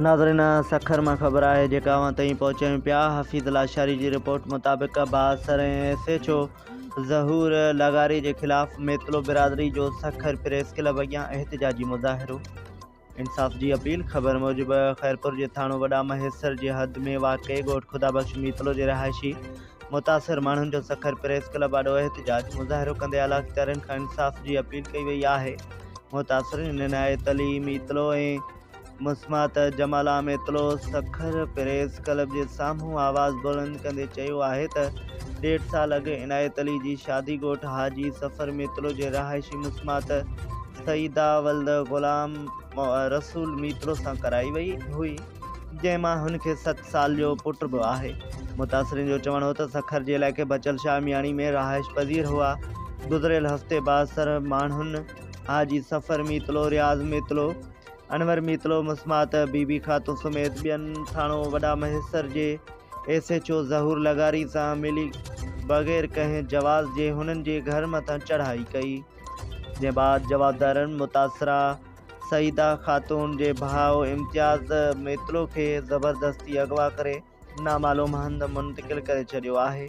ناظرين سکر مان خبر آهي جيڪا اوهان تائين پهچايون پيا حفيظ لاشاري جي رپورٽ مطابق بااثر ۽ ايس ايڇ او ظهور لغاري جي خلاف ميتلو برادري جو سکر پريس ڪلب اڳيان احتجاجي مظاهرو انصاف جي اپيل خبر موجب خيرپور جي ٿاڻو وڏا مهيسر جي حد ۾ واقع ڳوٺ خدا بخش ميتلو جي رهائشي متاثر ماڻهن جو سکر پريس ڪلب آڏو احتجاج مظاهرو ڪندي اعليٰ اختيارين کان انصاف جي اپيل ڪئي وئي آهي متاثرين هن ناهي تعليم اطلوع ۽ مسمات جمال عام اطلوع سکر پريس ڪلب جي سامهون آواز بلند ڪندي چيو آهي ته ڏيڍ سال اڳ عنايت علي جي شادي ڳوٺ حاجي سفر ميتلو جي رهائشي مسمات سيده ولد غلام رسول ميتلو سان ڪرائي وئي هئي جنهن مان هن کي ست سال جو پٽ به آهي. متاثرين جو چوڻ هو ته سکر جي علائقي بچل شاهه مياڻي ۾ رهائش پذير هئا. گذريل هفتي بااثر ماڻهن حاجي سفر ميتلو، رياض ميتلو، انور ميتلو، مسمات بي بي خاتون سميت ٻين ٿاڻو وڏا مهيسر جي ايس ايڇ او ظهور لغاري سان ملي بغير ڪنهن جواز جي هنن جي گهر مٿان چڙهائي ڪئي. جنهن بعد جوابدارن متاثره سعيده خاتون جي ڀاء امتياز ميتلو کي زبردستي اغوا ڪري نامعلوم هنڌ منتقل ڪري ڇڏيو آهي.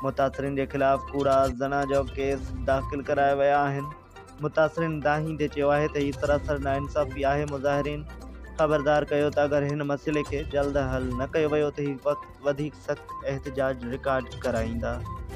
متاثرين جي خلاف ڪوڙا زنا جو ڪيس داخل ڪرايا ويا آهن. متاثرين دانهين تي چيو آهي ته هي سراسر ناانصافي آهي، مظاهرين خبردار ڪيو ته اگر هن مسئلي کي جلد حل نه ڪيو ويو ته هي وڌيڪ سخت احتجاج رڪارڊ ڪرائيندا.